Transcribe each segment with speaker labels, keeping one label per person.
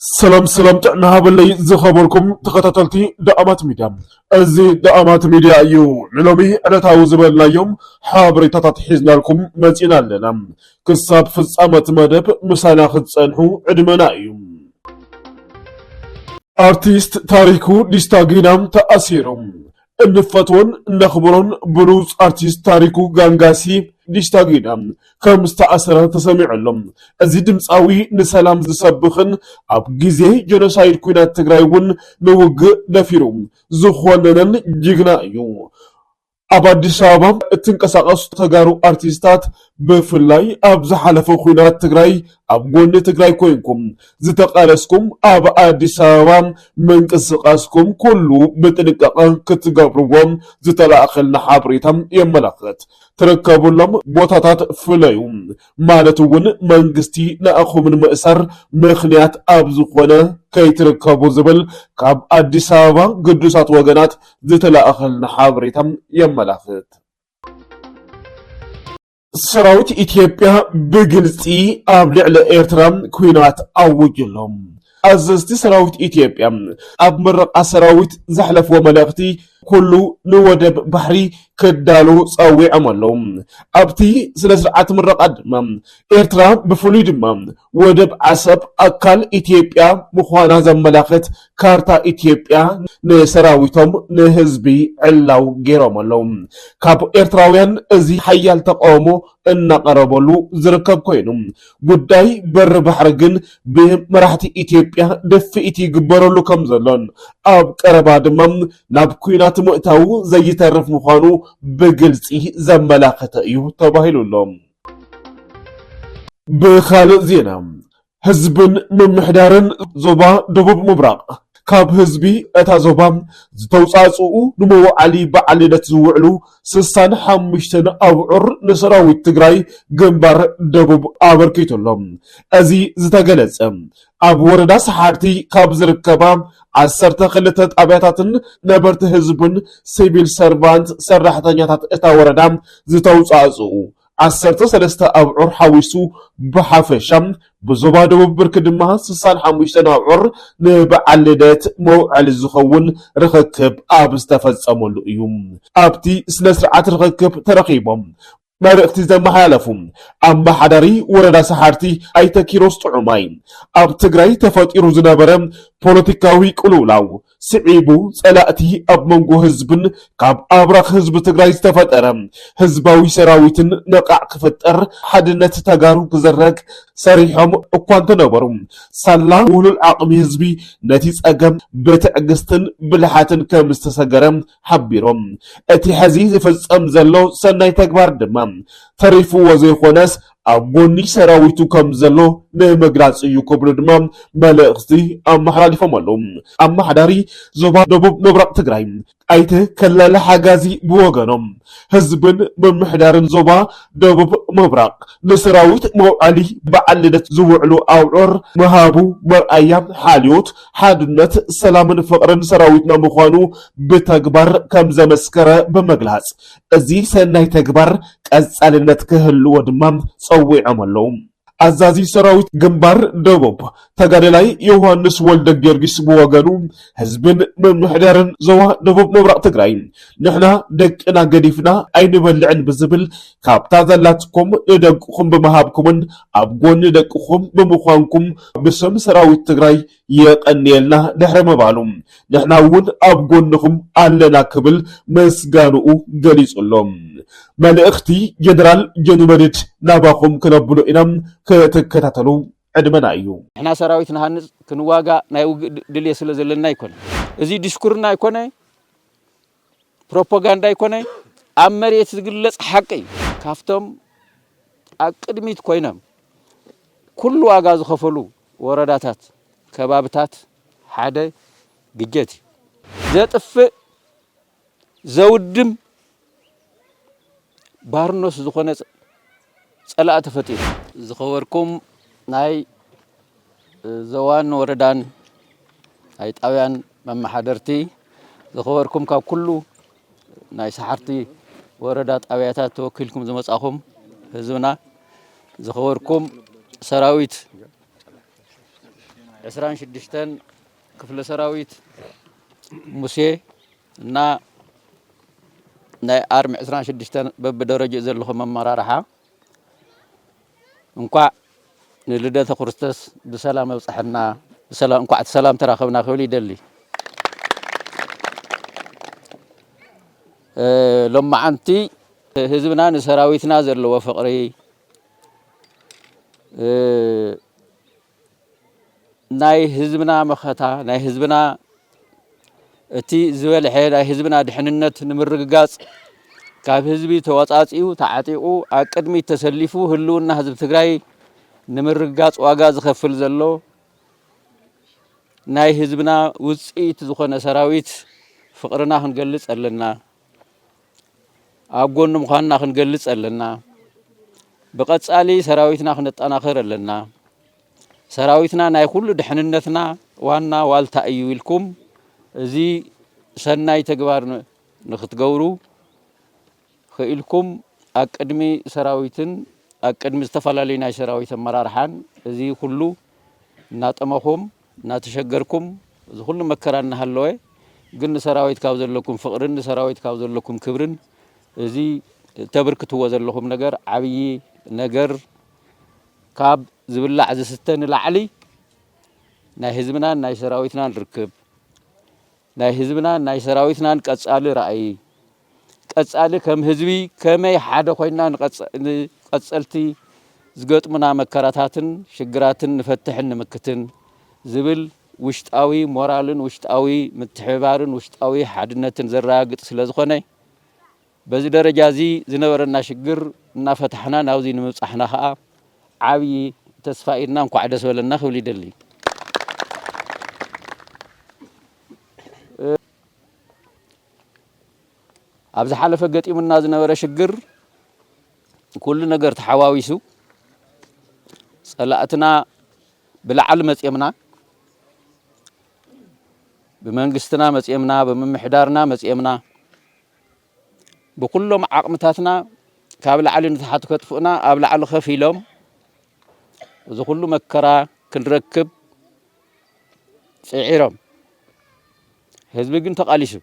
Speaker 1: ሰላም ሰላም ጥዕና ሃበለይ ዝኸበርኩም ተኸታተልቲ ዳኣማት ሚድያ እዚ ዳኣማት ሚድያ እዩ ንሎሚ ዕለታዊ ዝበልናዮም ሓበሬታታት ሒዝናልኩም መፂና ኣለና ክሳብ ፍፃመት መደብ ምሳና ክትፀንሑ ዕድመና እዩ ኣርቲስት ታሪኩ ዲስታጊና ተኣሲሩ እንፈትዎን እነኽብሮን ብሉጽ ኣርቲስት ታሪኩ ጋንጋሲ፣ ዲሽታ ጊዳ፣ ከም ዝተኣሰረ ተሰሚዑ ኣሎ። እዚ ድምጻዊ ንሰላም ዝሰብኽን ኣብ ግዜ ጀኖሳይድ ኲናት ትግራይ እውን ንውግእ ደፊሩ ዝኾነነን ጅግና እዩ። ኣብ ኣዲስ ኣበባ እትንቀሳቐሱ ተጋሩ ኣርቲስታት ብፍላይ ኣብ ዝሓለፈ ኩናት ትግራይ ኣብ ጎኒ ትግራይ ኮይንኩም ዝተቃለስኩም ኣብ ኣዲስ ኣበባ ምንቅስቃስኩም ኩሉ ብጥንቃቐ ክትገብርዎ ዝተላእከልና ሓበሬታ የመላኽት። ትርከቡሎም ቦታታት ፍለዩ ማለት እውን መንግስቲ ንኣኹም ንምእሳር ምኽንያት ኣብ ዝኾነ ከይትርከቡ ዝብል ካብ ኣዲስ ኣበባ ግዱሳት ወገናት ዝተላእኸልና ሓበሬታ የመላኽት። ሰራዊት ኢትዮጵያ ብግልፂ ኣብ ልዕሊ ኤርትራ ኩናት ኣውጁ ኣሎ። ኣዘዝቲ ሰራዊት ኢትዮጵያ ኣብ ምረቓ ሰራዊት ዘሕለፍዎ መልእኽቲ ኩሉ ንወደብ ባሕሪ ክዳሉ ጸዊዖም ኣለዉ። ኣብቲ ስነ ስርዓት ምረቓ ድማ ኤርትራ ብፍሉይ ድማ ወደብ ዓሰብ ኣካል ኢትዮጵያ ምዃና ዘመላኽት ካርታ ኢትዮጵያ ንሰራዊቶም ንህዝቢ ዕላው ገይሮም ኣለዉ። ካብ ኤርትራውያን እዚ ሓያል ተቃውሞ እናቐረበሉ ዝርከብ ኮይኑ ጉዳይ በሪ ባሕሪ ግን ብመራሕቲ ኢትዮጵያ ድፍኢት ይግበረሉ ከም ዘሎን ኣብ ቀረባ ድማ ናብ ኩናት ምእታው ዘይተርፍ ምዃኑ ብግልጺ ዘመላኸተ እዩ ተባሂሉ ኣሎ። ብካልእ ዜና ህዝብን ምምሕዳርን ዞባ ደቡብ ምብራቕ ካብ ህዝቢ እታ ዞባ ዝተውፃእፅኡ ንመውዓሊ በዓል ልደት ዝውዕሉ ስሳን ሓሙሽተን ኣብዑር ንሰራዊት ትግራይ ግንባር ደቡብ ኣበርኪቱ ኣሎ። እዚ ዝተገለፀ ኣብ ወረዳ ሰሓርቲ ካብ ዝርከባ ዓሰርተ ክልተ ጣብያታትን ነበርቲ ህዝብን ሲቪል ሰርቫንት ሰራሕተኛታት እታ ወረዳ ዝተውፃእፅኡ ዓሰርተ ሰለስተ ኣብዑር ሓዊሱ ብሓፈሻ ብዞባ ደቡብ ብርኪ ድማ ስሳን ሓሙሽተን ኣብዑር ንበዓል ልደት መውዐሊ ዝኸውን ርኽክብ ኣብ ዝተፈፀመሉ እዩ ኣብቲ ስነ ስርዓት ርኽክብ ተረኺቦም መልእኽቲ ዘመሓላለፉ ኣመሓዳሪ ወረዳ ሰሓርቲ ኣይተ ኪሮስ ጥዑማይ ኣብ ትግራይ ተፈጢሩ ዝነበረ ፖለቲካዊ ቅልውላው ስዒቡ ፀላእቲ ኣብ መንጎ ህዝብን ካብ ኣብራኽ ህዝቢ ትግራይ ዝተፈጠረ ህዝባዊ ሰራዊትን ነቓዕ ክፍጠር ሓድነት ተጋሩ ክዝረግ ሰሪሖም እኳ እንተነበሩ ሳላ ውህሉል ዓቕሚ ህዝቢ ነቲ ፀገም ብትዕግስትን ብልሓትን ከምዝተሰገረ ሓቢሮም። እቲ ሐዚ ዝፍፀም ዘሎ ሰናይ ተግባር ድማ ተሪፍዎ ዘይኾነስ ኣብ ጎኒ ሰራዊቱ ከምዘሎ ንምግላፅ እዩ ክብሉ ድማ መልእኽቲ ኣመሓላሊፎም ኣለው። ኣመሓዳሪ ዞባ ደቡብ ምብራቕ ትግራይ ኣይተ ከለለ ሓጋዚ ብወገኖም ህዝብን ምምሕዳርን ዞባ ደቡብ ምብራቕ ንሰራዊት መውዓሊ በዓል ልደት ዝውዕሉ ኣብዑር ምሃቡ መርኣያ ሓልዮት ሓድነት፣ ሰላምን ፍቕርን ሰራዊትና ምዃኑ ብተግባር ከምዘመስከረ ብምግላፅ፣ እዚ ሰናይ ተግባር ቀፃልነት ክህልዎ ድማ ፀዊዖም ኣለው። ኣዛዚ ሰራዊት ግንባር ደቡብ ተጋደላይ ዮውሃንስ ወልደጊዮርጊስ ብወገኑ፣ ህዝብን ምምሕዳርን ዞባ ደቡብ ምብራቕ ትግራይ ንሕና ደቅና ገዲፍና ኣይንበልዕን ብዝብል ካብታ ዘላትኩም ንደቅኹም ብምሃብኩምን ኣብ ጎኒ ደቅኹም ብምዃንኩም ብስም ሰራዊት ትግራይ የቐንየልና ድሕሪ ምባሉ ንሕና እውን ኣብ ጎንኹም ኣለና ክብል ምስጋንኡ ገሊጹ ኣሎ። መልእኽቲ ጀነራል ጆኒ መድድ ናባኹም ክነብሎ ኢና ክትከታተሉ ዕድመና እዩ። ንሕና ሰራዊት ንሃንፅ ክንዋጋእ ናይ ውግእ ድልየት ስለ ዘለና ኣይኮነን እዚ ዲስኩርና ኣይኮነ ፕሮፖጋንዳ ኣይኮነ ኣብ መሬት ዝግለጽ ሓቂ እዩ። ካብቶም ኣብ ቅድሚት ኮይኖም ኩሉ ዋጋ ዝኸፈሉ ወረዳታት ከባብታት ሓደ ግጀት እዩ። ዘጥፍእ ዘውድም ባርኖስ ዝኾነ ጸላኢ ተፈጢሩ። ዝኸበርኩም ናይ ዞባን ወረዳን ናይ ጣብያን መመሓደርቲ፣ ዝኸበርኩም ካብ ኩሉ ናይ ሰሓርቲ ወረዳ ጣብያታት ተወኪልኩም ዝመጻኹም ህዝብና፣ ዝኸበርኩም ሰራዊት
Speaker 2: ዕስራን ሽዱሽተን ክፍለ ሰራዊት ሙሴ፣ እና ናይ ኣርሚ ዕስራን ሽዱሽተን በብደረጅኡ ዘለኹም ኣመራርሓ እንኳዕ ንልደተ ክርስቶስ ብሰላም ኣብፀሐና እንኳዕ ሰላም ተራኸብና ክብል ይደሊ ሎማዓንቲ ህዝብና ንሰራዊትና ዘለዎ ፍቕሪ ናይ ህዝብና መኸታ ናይ ህዝብና እቲ ዝበልሐ ናይ ህዝብና ድሕንነት ንምርግጋፅ ካብ ህዝቢ ተወፃፂኡ ተዓጢቑ ኣብ ቅድሚት ተሰሊፉ ህልውና ህዝቢ ትግራይ ንምርግጋፅ ዋጋ ዝኸፍል ዘሎ ናይ ህዝብና ውፅኢት ዝኾነ ሰራዊት ፍቕርና ክንገልፅ ኣለና። ኣብ ጎኑ ምዃንና ክንገልጽ ኣለና። ብቐጻሊ ሰራዊትና ክነጠናኸር ኣለና። ሰራዊትና ናይ ኩሉ ድሕንነትና ዋና ዋልታ እዩ ኢልኩም እዚ ሰናይ ተግባር ንክትገብሩ ክኢልኩም ኣብ ቅድሚ ሰራዊትን ኣብ ቅድሚ ዝተፈላለዩ ናይ ሰራዊት ኣመራርሓን እዚ ኩሉ እናጠመኹም እናተሸገርኩም እዚ ኩሉ መከራ እናሃለወ ግን ንሰራዊት ካብ ዘለኩም ፍቕርን ንሰራዊት ካብ ዘለኩም ክብርን እዚ ተብርክትዎ ዘለኹም ነገር ዓብዪ ነገር ካብ ዝብላዕ ዝስተ ንላዕሊ ናይ ህዝብናን ናይ ሰራዊትናን ርክብ ናይ ህዝብናን ናይ ሰራዊትናን ቀጻሊ ራእይ፣ ቀጻሊ ከም ህዝቢ ከመይ ሓደ ኮይንና ንቀጸልቲ ዝገጥሙና መከራታትን ሽግራትን ንፈትሕን ንምክትን ዝብል ውሽጣዊ ሞራልን ውሽጣዊ ምትሕብባርን ውሽጣዊ ሓድነትን ዘረጋግጽ ስለዝኾነ፣ በዚ ደረጃ እዚ ዝነበረና ሽግር እናፈታሕና ናብዚ ንምብፃሕና ከዓ ዓብዪ ተስፋ እዩ እና እንኳዕ ደስ በለና ክብል ይደሊ። ኣብ ዝሓለፈ ገጢሙና ዝነበረ ሽግር ኩሉ ነገር ተሓዋዊሱ ፀላእትና ብላዕሊ መፅየምና ብመንግስትና መፅየምና ብምምሕዳርና መፅየምና ብኩሎም ዓቕምታትና ካብ ላዕሊ ንታሕቲ ከጥፍኡና ኣብ ላዕሊ ከፍ ኢሎም እዚ ኩሉ መከራ ክንረክብ ፅዒሮም ህዝቢ ግን ተቓሊሱ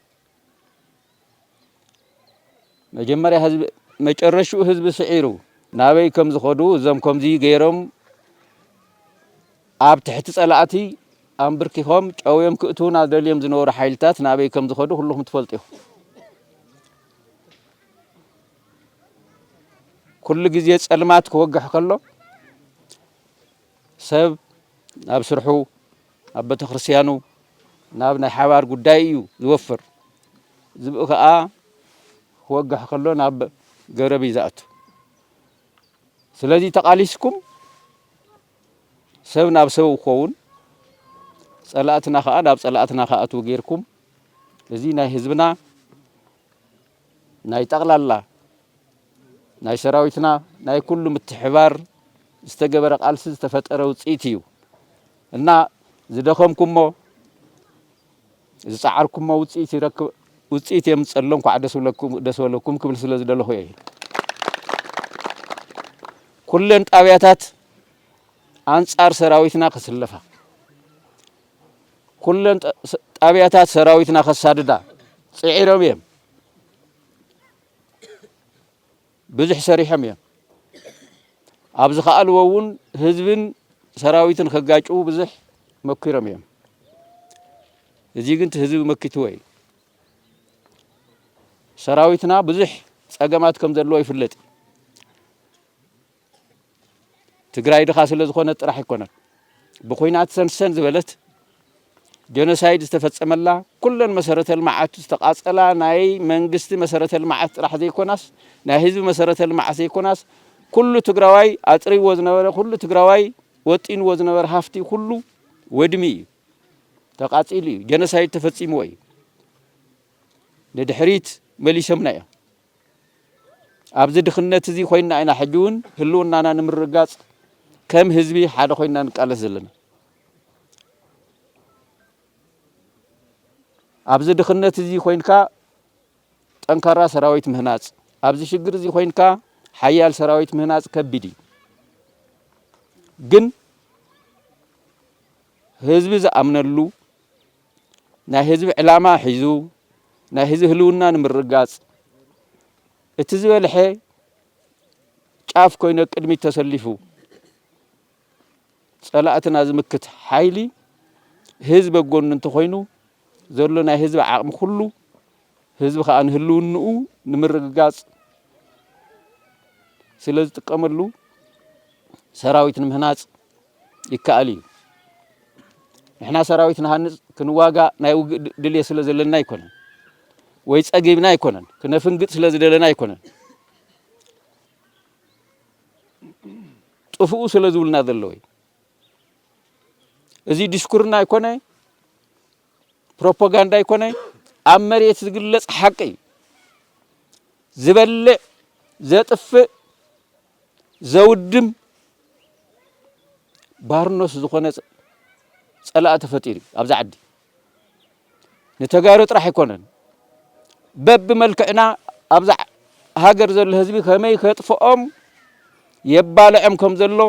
Speaker 2: መጀመርያ ህዝቢ መጨረሽኡ ህዝቢ ስዒሩ ናበይ ከም ዝኸዱ እዞም ከምዚ ገይሮም ኣብ ትሕቲ ጸላእቲ ኣምብርኪኾም ጨውዮም ክእትዉና ደልዮም ዝነበሩ ሓይልታት ናበይ ከም ዝኸዱ ኩልኹም ትፈልጡ ኢኹም። ኩሉ ግዜ ጸልማት ክወግሕ ከሎ ሰብ ናብ ስርሑ፣ ናብ ቤተክርስትያኑ፣ ናብ ናይ ሓባር ጉዳይ እዩ ዝወፍር። ዝብኢ ከኣ ክወግሕ ከሎ ናብ ገረብ እዩ ዝኣቱ። ስለዚ ተቓሊስኩም ሰብ ናብ ሰብ ክኸውን ጸላእትና ከኣ ናብ ጸላእትና ክኣትዉ ጌርኩም እዚ ናይ ህዝብና ናይ ጠቕላላ ናይ ሰራዊትና ናይ ኩሉ ምትሕባር ዝተገበረ ቃልሲ ዝተፈጠረ ውፅኢት እዩ እና ዝደኸምኩሞ ዝጸዓርኩሞ ውጽኢት ይረክብ ውጽኢት የምጽእ ኣሎ እንኳዕ ደስ ብለኩም ደስ በለኩም ክብል ስለ ዝደለኹ እየ። ኩለን ጣብያታት ኣንጻር ሰራዊትና ክስለፋ ኩለን ጣብያታት ሰራዊትና ከሳድዳ ጽዒሮም እዮም። ብዙሕ ሰሪሖም እዮም ኣብ ዝኸኣልዎ እውን ህዝብን ሰራዊትን ከጋጭዉ ብዙሕ መኪሮም እዮም እዚ ግን ህዝቢ መኪትዎ እዩ ሰራዊትና ብዙሕ ፀገማት ከም ዘለዎ ይፍለጥ እዩ ትግራይ ድኻ ስለ ዝኾነት ጥራሕ ኣይኮነን ብኩናት ሰንሰን ዝበለት ጀኖሳይድ ዝተፈጸመላ ኩለን መሰረተ ልምዓት ዝተቓጸላ ናይ መንግስቲ መሰረተ ልምዓት ጥራሕ ዘይኮናስ ናይ ህዝቢ መሰረተ ልምዓት ዘይኮናስ ኩሉ ትግራዋይ ኣጥሪዎ ዝነበረ ኩሉ ትግራዋይ ወጢንዎ ዝነበረ ሃፍቲ ኩሉ ወድሚ እዩ ተቓጺሉ እዩ ጀኖሳይድ ተፈጺምዎ እዩ ንድሕሪት መሊሶምና እዮም ኣብዚ ድኽነት እዚ ኮይና ኢና ሕጂ እውን ህልውናና ንምርግጋፅ ከም ህዝቢ ሓደ ኮይና ንቃለስ ዘለና። ኣብዚ ድኽነት እዚ ኮይንካ ጠንካራ ሰራዊት ምህናፅ፣ ኣብዚ ሽግር እዚ ኮይንካ ሓያል ሰራዊት ምህናፅ ከቢድ እዩ። ግን ህዝቢ ዝኣምነሉ ናይ ህዝቢ ዕላማ ሒዙ ናይ ህዝቢ ህልውና ንምርግጋፅ እቲ ዝበልሐ ጫፍ ኮይኑ ኣብ ቅድሚት ተሰሊፉ ፀላእትና ዝምክት ሓይሊ ህዝቢ ኣብ ጎኑ እንተኾይኑ ዘሎ ናይ ህዝቢ ዓቕሚ ኩሉ ህዝቢ ከዓ ንህልውንኡ ንምርግጋፅ ስለ ዝጥቀመሉ ሰራዊት ንምህናፅ ይከኣል እዩ። ንሕና ሰራዊት ንሃንጽ ክንዋጋእ ናይ ውግእ ድልየት ስለ ዘለና ኣይኮነን ወይ ጸጊብና ኣይኮነን ክነፍንግጥ ስለ ዝደለና ኣይኮነን ጥፍኡ ስለ ዝብልና ዘለዎ እዩ እዚ ዲስኩርና ኣይኮነ ፕሮፓጋንዳ ኣይኮነ ኣብ መሬት ዝግለጽ ሓቂ እዩ ዝበልዕ ዘጥፍእ ዘውድም ባርኖስ ዝኾነ ፀላእ ተፈጢሩ እዩ ኣብዚ ዓዲ ንተጋሩ ጥራሕ ኣይኮነን በቢ መልክዕና ኣብዚ ሃገር ዘሎ ህዝቢ ከመይ ከጥፍኦም የባልዖም ከም ዘሎ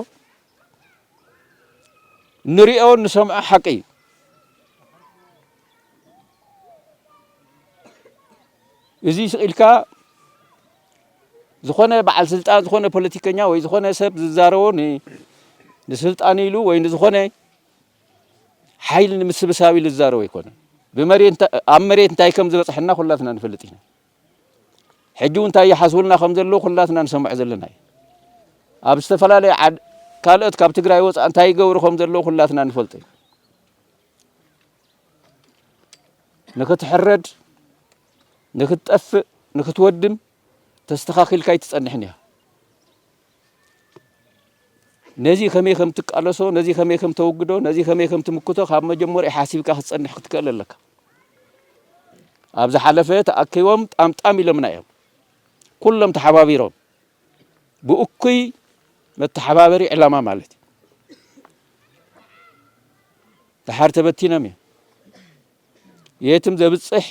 Speaker 2: ንሪኦ ንሰምዖ ሓቂ እዩ እዚ ስኢልካ ዝኾነ በዓል ስልጣን ዝኾነ ፖለቲከኛ ወይ ዝኾነ ሰብ ዝዛረቦ ንስልጣን ኢሉ ወይ ንዝኾነ ሓይሊ ንምስብሳብ ኢሉ ዝዛረቦ ኣይኮነን። ኣብ መሬት እንታይ ከም ዝበፅሐና ኩላትና ንፈልጥ ኢና። ሕጂ እውን እንታይ ይሓስቡልና ከም ዘለዉ ኩላትና ንሰምዖ ዘለና እዩ። ኣብ ዝተፈላለየ ካልኦት ካብ ትግራይ ወፃእ እንታይ ይገብሩ ከም ዘለዉ ኩላትና ንፈልጦ እዩ። ንክትሕረድ ንክትጠፍእ ንክትወድም ተስተኻኺልካ ኣይትጸንሕን ኢኻ። ነዚ ከመይ ከም ትቃለሶ፣ ነዚ ከመይ ከም ተወግዶ፣ ነዚ ከመይ ከም ትምክቶ ካብ መጀመሪኡ ሓሲብካ ክትጸንሕ ክትክእል ኣለካ። ኣብ ዝሓለፈ ተኣኪቦም ጣምጣም ኢሎምና እዮም ኩሎም ተሓባቢሮም ብእኩይ መተሓባበሪ ዕላማ ማለት እዩ ድሓር ተበቲኖም እዮም የትም ዘብጽሕ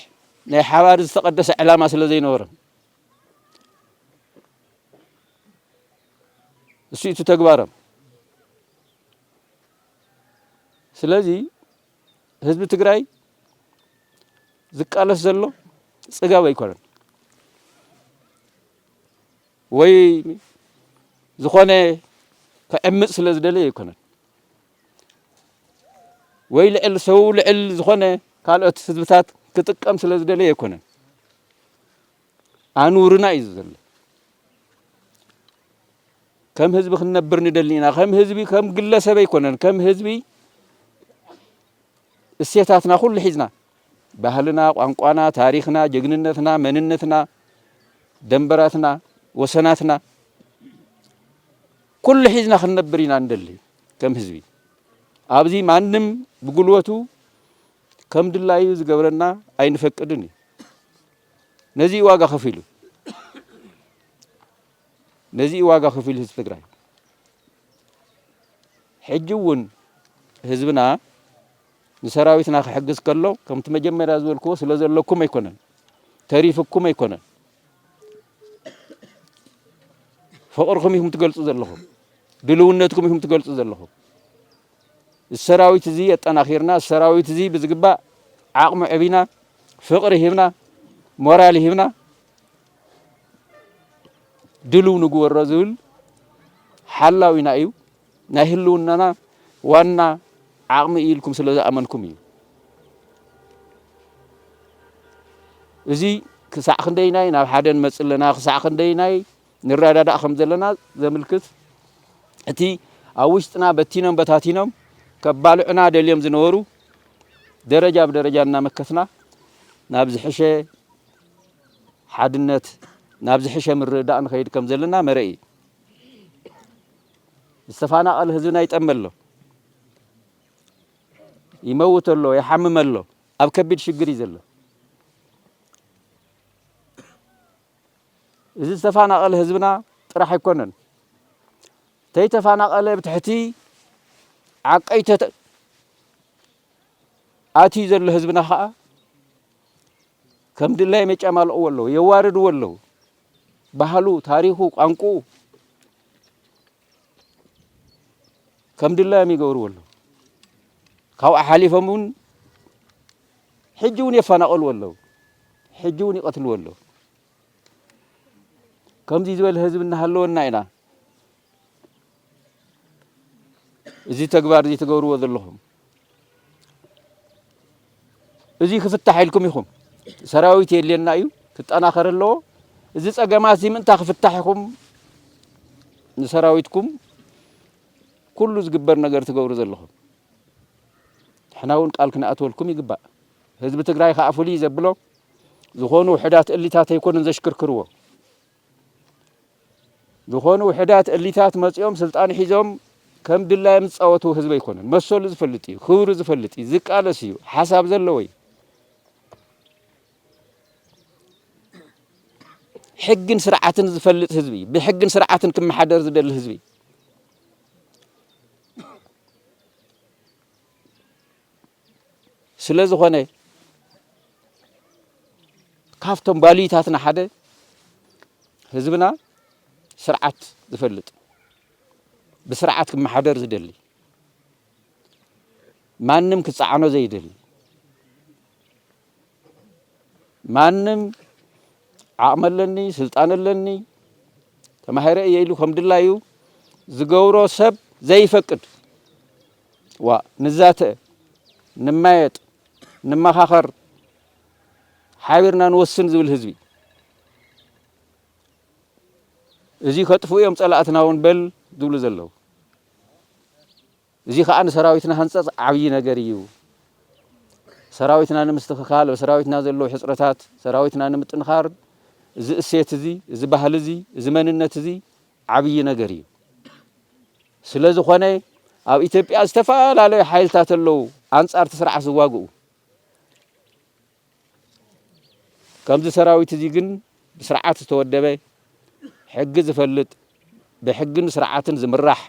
Speaker 2: ናይ ሓባር ዝተቐደሰ ዕላማ ስለ ዘይነበሮም እሱ እቲ ተግባሮም። ስለዚ ህዝቢ ትግራይ ዝቃለስ ዘሎ ጽጋብ ኣይኮነን ወይ ዝኾነ ክዕምፅ ስለ ዝደለየ ኣይኮነን። ወይ ልዕል ሰው ልዕል ዝኾነ ካልኦት ህዝብታት ክጥቀም ስለ ዝደለየ ኣይኮነን ኣንውርና እዩ ዘሎ ከም ህዝቢ ክንነብር ንደሊ ኢና ከም ህዝቢ ከም ግለሰብ ኣይኮነን ከም ህዝቢ እሴታትና ኩሉ ሒዝና ባህልና ቋንቋና ታሪክና ጀግንነትና መንነትና ደንበራትና ወሰናትና ኩሉ ሒዝና ክንነብር ኢና እንደሊ ከም ህዝቢ ኣብዚ ማንም ብጉልበቱ ከም ድላዩ ዝገብረና ኣይንፈቅድን እዩ ነዚ እዩ ዋጋ ከፊሉ ነዚ እዩ ዋጋ ከፊሉ ህዝቢ ትግራይ ሕጂ እውን ህዝብና ንሰራዊትና ክሕግዝ ከሎ ከምቲ መጀመርያ ዝበልክዎ ስለ ዘለኩም ኣይኮነን ተሪፍኩም ኣይኮነን ፍቕርኹም ኢኹም ትገልጹ ዘለኹም፣ ድልውነትኩም ኢኹም ትገልጹ ዘለኹም። እዚ ሰራዊት እዚ ኣጠናኺርና እዚ ሰራዊት እዚ ብዝግባእ ዓቕሙ ዕቢና ፍቕሪ ሂብና ሞራል ሂብና ድልው ንግበሮ ዝብል ሓላዊና እዩ። ናይ ህልውናና ዋና ዓቕሚ እዩ ኢልኩም ስለ ዝኣመንኩም እዩ። እዚ ክሳዕ ክንደይናይ ናብ ሓደ ንመፅእ ኣለና ክሳዕ ክንደይናይ ንረዳዳእ ከም ዘለና ዘምልክት እቲ ኣብ ውሽጥና በቲኖም በታቲኖም ከባልዑና ደልዮም ዝነበሩ ደረጃ ብደረጃ እናመከትና ናብ ዝሕሸ ሓድነት ናብ ዝሕሸ ምርዳእ ንኸይድ ከም ዘለና መረኢ ዝተፋናቐለ ህዝብና ይጠሚ ኣሎ፣ ይመውት ኣሎ፣ ይሓምም ኣሎ፣ ኣብ ከቢድ ሽግር እዩ ዘሎ። እዚ ዝተፋናቐለ ህዝብና ጥራሕ ኣይኮነን ተይተፋናቐለ ብትሕቲ ዓቀይተ ኣትዩ ዘሎ ህዝብና ከዓ ከም ድላዮም የጫማልቕዎ ኣለዉ፣ የዋርድዎ ኣለዉ። ባህሉ፣ ታሪኹ፣ ቋንቁኡ ከም ድላዮም ይገብርዎ ኣለዉ። ካብኡ ሓሊፎም እውን ሕጂ እውን የፈናቐልዎ ኣለዉ፣ ሕጂ እውን ይቐትልዎ ኣለዉ። ከምዚ ዝበለ ህዝቢ እናሃለወና ኢና እዚ ተግባር እዚ ትገብርዎ ዘለኹም እዚ ክፍታሕ ኢልኩም ኢኹም ሰራዊት የድልየና እዩ ክጠናኸር ኣለዎ እዚ ጸገማት እዚ ምእንታ ክፍታሕ ኢኹም ንሰራዊትኩም ኩሉ ዝግበር ነገር ትገብሩ ዘለኹም ንሕና እውን ቃል ክንኣትወልኩም ይግባእ ህዝቢ ትግራይ ከዓ ፍሉይ ዘብሎ ዝኾኑ ውሕዳት እሊታት ኣይኮኑን ዘሽክርክርዎ ዝኾኑ ውሕዳት እሊታት መጺኦም ስልጣን ሒዞም ከም ድላዮም ዝጻወትዎ ህዝቢ ኣይኮነን። መሰሉ ዝፈልጥ እዩ፣ ክብሩ ዝፈልጥ እዩ፣ ዝቃለስ እዩ፣ ሓሳብ ዘለዎ እዩ። ሕግን ስርዓትን ዝፈልጥ ህዝቢ እዩ። ብሕግን ስርዓትን ክመሓደር ዝደሊ ህዝቢ እዩ። ስለ ዝኾነ ካብቶም ባልዩታትና ሓደ ህዝብና ስርዓት ዝፈልጥ ብስርዓት ክመሓደር ዝደሊ ማንም ክፀዓኖ ዘይደሊ ማንም ዓቕሚ ኣለኒ ስልጣን ኣለኒ ተማሂረ እየ ኢሉ ከም ድላዩ ዝገብሮ ሰብ ዘይፈቅድ ዋ ንዛተ ንማየጥ ንመኻኸር ሓቢርና ንወስን ዝብል ህዝቢ እዚ ከጥፍኡ እዮም ጸላእትና እውን በል ዝብሉ ዘለዉ እዚ ከኣ ንሰራዊትና ሃንጸጽ ዓብይ ነገር እዩ። ሰራዊትና ንምስትኽካል፣ ኣብ ሰራዊትና ዘለዉ ሕጽረታት ሰራዊትና ንምጥንኻር እዚ እሴት እዚ፣ እዚ ባህሊ እዚ፣ እዚ መንነት እዚ ዓብይ ነገር እዩ። ስለ ዝኾነ ኣብ ኢትዮጵያ ዝተፈላለዩ ሓይልታት ኣለዉ ኣንጻር እቲ ስርዓት ዝዋግኡ። ከምዚ ሰራዊት እዚ ግን ብስርዓት ዝተወደበ፣ ሕጊ ዝፈልጥ፣ ብሕግን ስርዓትን ዝምራሕ፣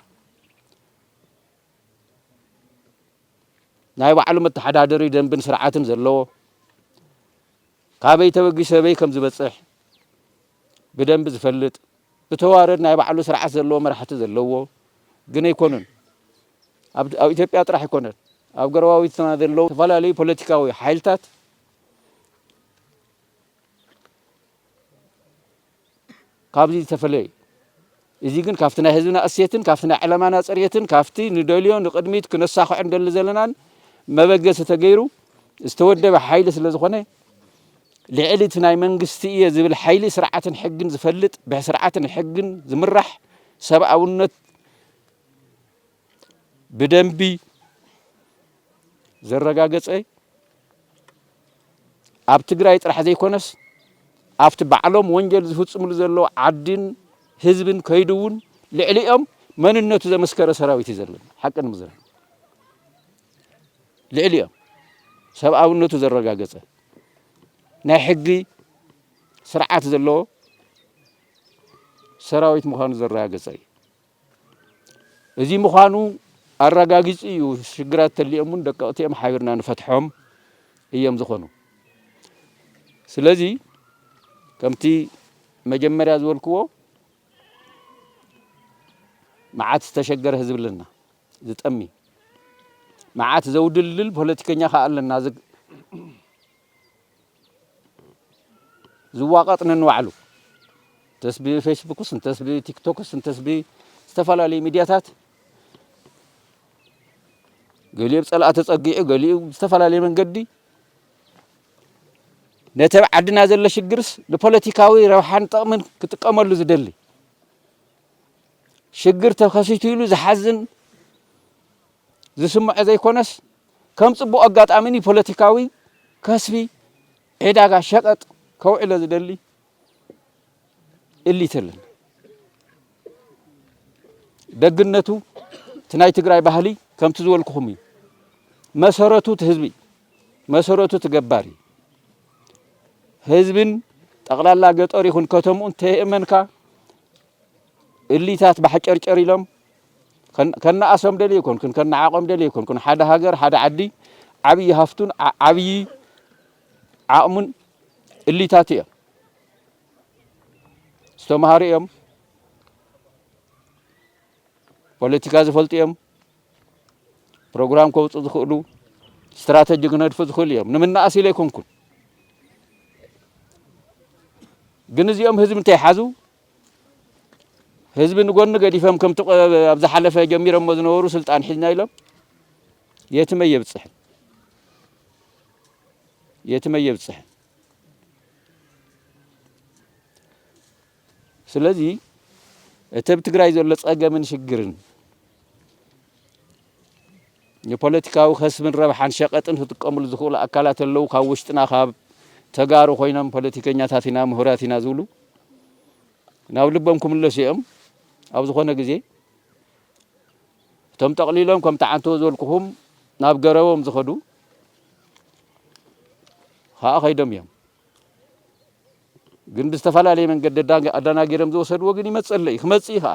Speaker 2: ናይ ባዕሉ መተሓዳደሪ ደንብን ስርዓትን ዘለዎ፣ ካበይ ተበጊሱ ኣበይ ከም ዝበፅሕ ብደንቢ ዝፈልጥ፣ ብተዋረድ ናይ ባዕሉ ስርዓት ዘለዎ መራሕቲ ዘለዎ ግን ኣይኮኑን። ኣብ ኢትዮጵያ ጥራሕ ኣይኮነን ኣብ ጎረባብትና ዘለዉ ዝተፈላለዩ ፖለቲካዊ ሓይልታት ካብዚ ዝተፈለየ እዩ እዚ ግን ካብቲ ናይ ህዝብና እሴትን ካብቲ ናይ ዕለማና ፅሬትን ካብቲ ንደልዮ ንቅድሚት ክነሳክዖ ንደሊ ዘለናን መበገሲ ተገይሩ ዝተወደበ ሓይሊ ስለ ዝኾነ ልዕሊ እቲ ናይ መንግስቲ እየ ዝብል ሓይሊ ስርዓትን ሕግን ዝፈልጥ ብስርዓትን ሕግን ዝምራሕ ሰብኣውነት ብደንቢ ዘረጋገፀ ኣብ ትግራይ ጥራሕ ዘይኮነስ ኣብቲ ባዕሎም ወንጀል ዝፍፅምሉ ዘለዉ ዓድን ህዝብን ከይዱ እውን ልዕሊኦም መንነቱ ዘመስከረ ሰራዊት እዩ ዘለና ሓቂ ንምዝራብ ልዕሊኦም ሰብኣውነቱ ዘረጋገፀ ናይ ሕጊ ስርዓት ዘለዎ ሰራዊት ምዃኑ ዘረጋገፀ እዩ እዚ ምዃኑ ኣረጋጊጹ እዩ። ሽግራት ተሊኦም እውን ደቀቕቲ እዮም፣ ሓቢርና ንፈትሖም እዮም ዝኾኑ። ስለዚ ከምቲ መጀመርያ ዝበልክዎ መዓት ዝተሸገረ ህዝቢ ኣለና ዝጠሚ መዓት ዘውድልድል ፖለቲከኛ ከዓ ኣለና ዝዋቐጥ ነንባዕሉ እንተስ ብፌስቡክስ እንተስ ብቲክቶክስ እንተስ ብዝተፈላለዩ ሚድያታት ገሊኡ ብ ፀላእ ተፀጊዑ ገሊኡ ብዝተፈላለየ መንገዲ ነቲ ኣብ ዓድና ዘሎ ሽግርስ ንፖለቲካዊ ረብሓን ጥቕምን ክጥቀመሉ ዝደሊ ሽግር ተኸሲቱ ኢሉ ዝሓዝን ዝስምዖ ዘይኮነስ ከም ጽቡቕ ኣጋጣሚ ንፖለቲካዊ ከስቢ ዒዳጋ ሸቐጥ ከውዕሎ ዝደሊ እሊት ኣለና። ደግነቱ እቲ ናይ ትግራይ ባህሊ ከምቲ ዝበልኩኹም እዩ። መሰረቱ እቲ ህዝቢ መሰረቱ እቲ ገባር እዩ። ህዝብን ጠቕላላ ገጠር ይኹን ከተምኡን ተየእመንካ እሊታት ባሕጨርጨር ኢሎም ከነኣሶም ደልየ ኣይኮንኩን፣ ከነዓቖም ደልየ ኣይኮንኩን። ሓደ ሃገር፣ ሓደ ዓዲ ዓብዪ ሃፍቱን ዓብዪ ዓቕሙን እሊታቱ እዮም። ዝተምሃሩ እዮም፣ ፖለቲካ ዝፈልጡ እዮም፣ ፕሮግራም ከውፁ ዝኽእሉ ስትራተጂ ክነድፉ ዝኽእሉ እዮም። ንምናኣስ ኢለ ኣይኮንኩን። ግን እዚኦም ህዝቢ እንተይሓዙ ህዝቢ ንጎኒ ገዲፈም ከምቲ ኣብ ዝሓለፈ ጀሚረሞ ዝነበሩ ስልጣን ሒዝና ኢሎም የትመ የብፅሕን የትመ የብፅሕን። ስለዚ እቲ ኣብ ትግራይ ዘሎ ፀገምን ሽግርን ንፖለቲካዊ ከስብን ረብሓን ሸቀጥን ክጥቀምሉ ዝኽእሉ ኣካላት ኣለው ካብ ውሽጥና ካብ ተጋሩ ኮይኖም ፖለቲከኛታት ኢና ምሁራት ኢና ዝብሉ ናብ ልቦም ክምለሱ እዮም ኣብ ዝኾነ ግዜ እቶም ጠቕሊሎም ከም ተዓንተዎ ዝበልኩኹም ናብ ገረቦም ዝኸዱ ከዓ ከይዶም እዮም ግን ብዝተፈላለየ መንገዲ ኣዳናጊሮም ዝወሰድዎ ግን ይመፅእ ኣሎ እዩ ክመፅእ እዩ ከዓ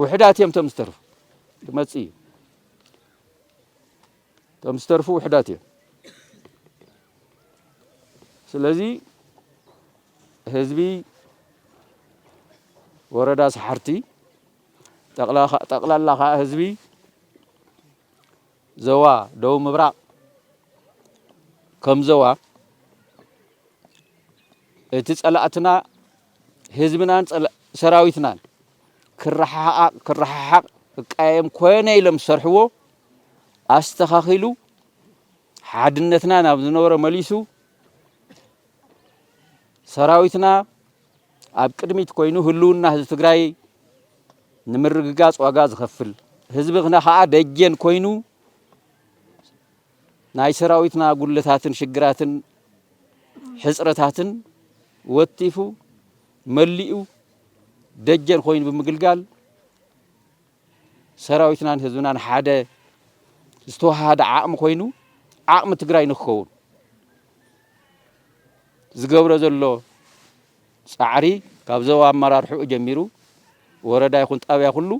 Speaker 2: ውሕዳት እዮም እቶም ዝተርፉ ክመፅእ እዩ እቶም ዝተርፉ ውሕዳት እዮም ስለዚ ህዝቢ ወረዳ ሰሓርቲ ጠቕላላ ከዓ ህዝቢ ዞባ ደቡብ ምብራቕ ከም ዞባ እቲ ጸላእትና ህዝብናን ሰራዊትናን ክረሓሓቕ ክቀያየም ኮነ ኢሎም ዝሰርሕዎ ኣስተኻኺሉ ሓድነትና ናብ ዝነበሮ መሊሱ ሰራዊትና ኣብ ቅድሚት ኮይኑ ህልውና ህዝቢ ትግራይ ንምርግጋፅ ዋጋ ዝኸፍል ህዝብና ከዓ ደጀን ኮይኑ ናይ ሰራዊትና ጉድለታትን ሽግራትን ሕፅረታትን ወቲፉ መሊኡ ደጀን ኮይኑ ብምግልጋል ሰራዊትናን ህዝብናን ሓደ ዝተወሃሃደ ዓቕሚ ኮይኑ ዓቕሚ ትግራይ ንክኸውን ዝገብሮ ዘሎ ፃዕሪ ካብ ዞባ ኣመራርሕኡ ጀሚሩ ወረዳ ይኹን ጣብያ ኩሉ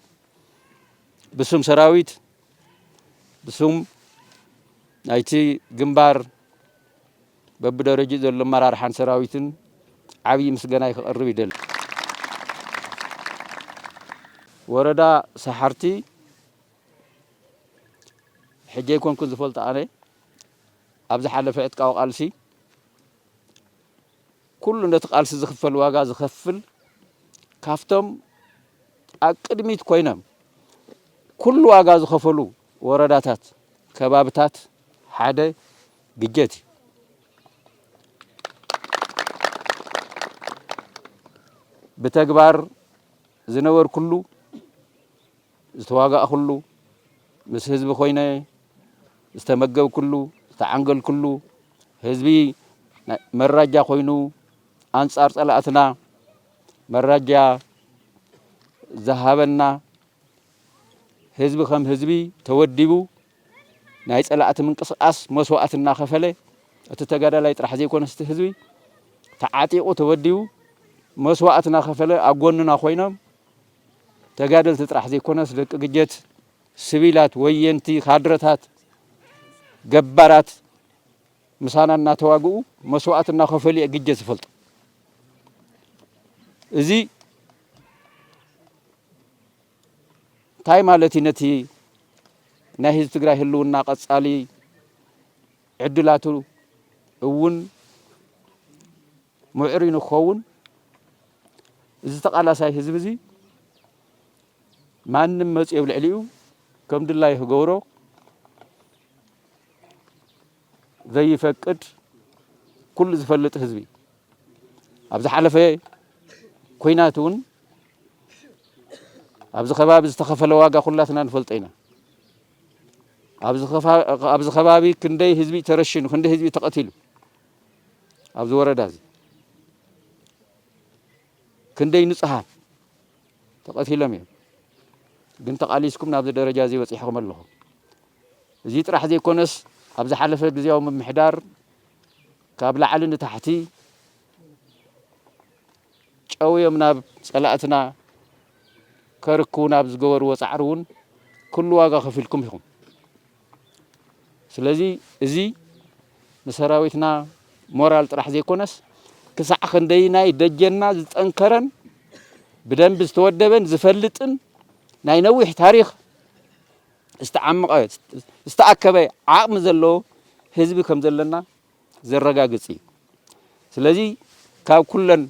Speaker 2: ብስም ሰራዊት ብስም ናይቲ ግንባር በብደረጅኡ ዘሎ ኣመራርሓን ሰራዊትን ዓብይ ምስገናይ ከቅርብ ይደሊ። ወረዳ ሰሓርቲ ሕጂ ኣይኮንኩን ዝፈልጦ ኣነ ኣብ ዝሓለፈ ዕጥቃዊ ቃልሲ ኩሉ ነቲ ቃልሲ ዝኽፈል ዋጋ ዝኸፍል ካፍቶም ኣብ ቅድሚት ኮይኖም ኩሉ ዋጋ ዝኸፈሉ ወረዳታት ከባብታት ሓደ ብጀት እዩ። ብተግባር ዝነበርኩሉ ዝተዋጋእኹሉ ምስ ህዝቢ ኮይነ ዝተመገብኩሉ ዝተዓንገልኩሉ ህዝቢ መራጃ ኮይኑ ኣንጻር ጸላእትና መራጃ ዝሃበና ህዝቢ ከም ህዝቢ ተወዲቡ ናይ ፀላእቲ ምንቅስቓስ መስዋእቲ እናኸፈለ እቲ ተጋዳላይ ጥራሕ ዘይኮነስ እቲ ህዝቢ ተዓጢቑ ተወዲቡ መስዋእቲ እናኸፈለ ኣብ ጎንና ኮይኖም ተጋደልቲ ጥራሕ ዘይኮነስ ደቂ ግጀት ስቪላት ወየንቲ ካድረታት ገባራት ምሳና እናተዋግኡ መስዋእቲ እናኸፈሉ እየ ግጀት ዝፈልጡ እዚ እንታይ ማለት እዩ ነቲ ናይ ህዝቢ ትግራይ ህልውና ቀጻሊ ዕድላቱ እውን ምዕሩይ ንክኸውን እዚ ተቓላሳይ ህዝቢ እዚ ማንም መፅዮ ኣብ ልዕሊኡ ከም ድላዩ ክገብሮ ዘይፈቅድ ኩሉ ዝፈልጥ ህዝቢ ኣብ ዝሓለፈ ኩናት እውን ኣብዚ ከባቢ ዝተኸፈለ ዋጋ ኩላትና ንፈልጦ ኢና። ኣብዚ ከባቢ ክንደይ ህዝቢ ተረሽኑ፣ ክንደይ ህዝቢ ተቐቲሉ ኣብዚ ወረዳ እዚ ክንደይ ንጹሃት ተቀቲሎም እዮም ግን ተቃሊስኩም ናብዚ ደረጃ እዚ በጺሕኩም ኣለኹም እዚ ጥራሕ ዘይኮነስ ኣብ ዝሓለፈ ግዝያዊ ምምሕዳር ካብ ላዕሊ ንታሕቲ ጨውዮም ናብ ጸላእትና ከርክቡና ኣብ ዝገበርዎ ጻዕሪ እውን ኩሉ ዋጋ ከፊልኩም ኢኹም ስለዚ እዚ ንሰራዊትና ሞራል ጥራሕ ዘይኮነስ ክሳዕ ክንደይናይ ደጀንና ዝጠንከረን ብደንቢ ዝተወደበን ዝፈልጥን ናይ ነዊሕ ታሪኽ ዝተዓመቐ ዝተኣከበ ዓቕሚ ዘለዎ ህዝቢ ከም ዘለና ዘረጋግጽ እዩ። ስለዚ ካብ ኩለን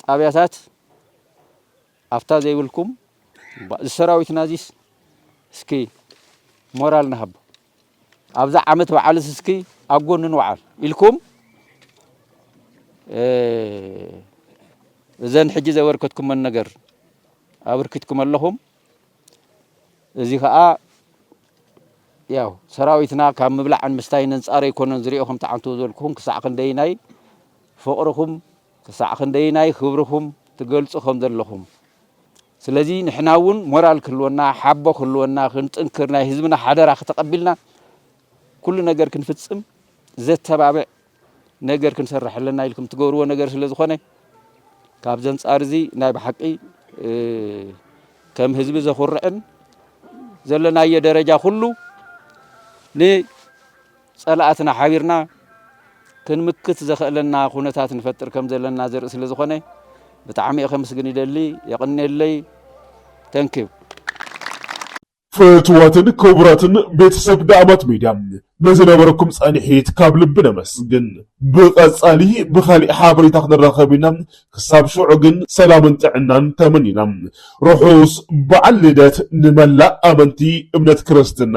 Speaker 2: ጣብያታት ኣፍታ ዘይብልኩም እባ እዚ ሰራዊትና እዚስ እስኪ ሞራል ንሃቦ ኣብዛ ዓመት በዓልስ እስኪ ኣብ ጎኑ ንውዓል ኢልኩም እዘን ሕጂ ዘበርከትኩመን ነገር ኣበርኪትኩም ኣለኹም እዚ ከዓ ያው ሰራዊትና ካብ ምብላዕን ምስታይን ኣንጻር ኣይኮነን ዝሪኦ ከምቲ ዓንተው ዝበልኩኹም ክሳዕ ክንደይናይ ፍቕርኹም ክሳዕ ክንደየናይ ክብርኹም ትገልጹ ከም ዘለኹም ስለዚ ንሕና እውን ሞራል ክህልወና ሓቦ ክህልወና ክንጥንክር ናይ ህዝብና ሓደራ ክተቐቢልና ኩሉ ነገር ክንፍጽም ዘተባብዕ ነገር ክንሰርሕ ኣለና ኢልኩም ትገብርዎ ነገር ስለ ዝኾነ ካብዚ ኣንጻር እዚ ናይ ብሓቂ ከም ህዝቢ ዘኹርዕን ዘለናዮ ደረጃ ኩሉ ን ፀላእትና ሓቢርና ክንምክት ዘኸእለና ኩነታት ንፈጥር ከም ዘለና ዘርኢ ስለ ዝኾነ ብጣዕሚ እየ ከምስግን ይደሊ የቕኔለይ ተንኪው
Speaker 1: ፍትዋትን ክቡራትን ቤተሰብ ዳኣማት ሚድያ ንዝነበረኩም ፃኒሒት ካብ ልቢ ነመስግን ብቀፃሊ ብካሊእ ሓበሬታ ክንራከብ ኢና ክሳብ ሽዑ ግን ሰላምን ጥዕናን ተመኒና ርሑስ በዓል ልደት ንመላእ ኣመንቲ እምነት ክርስትና።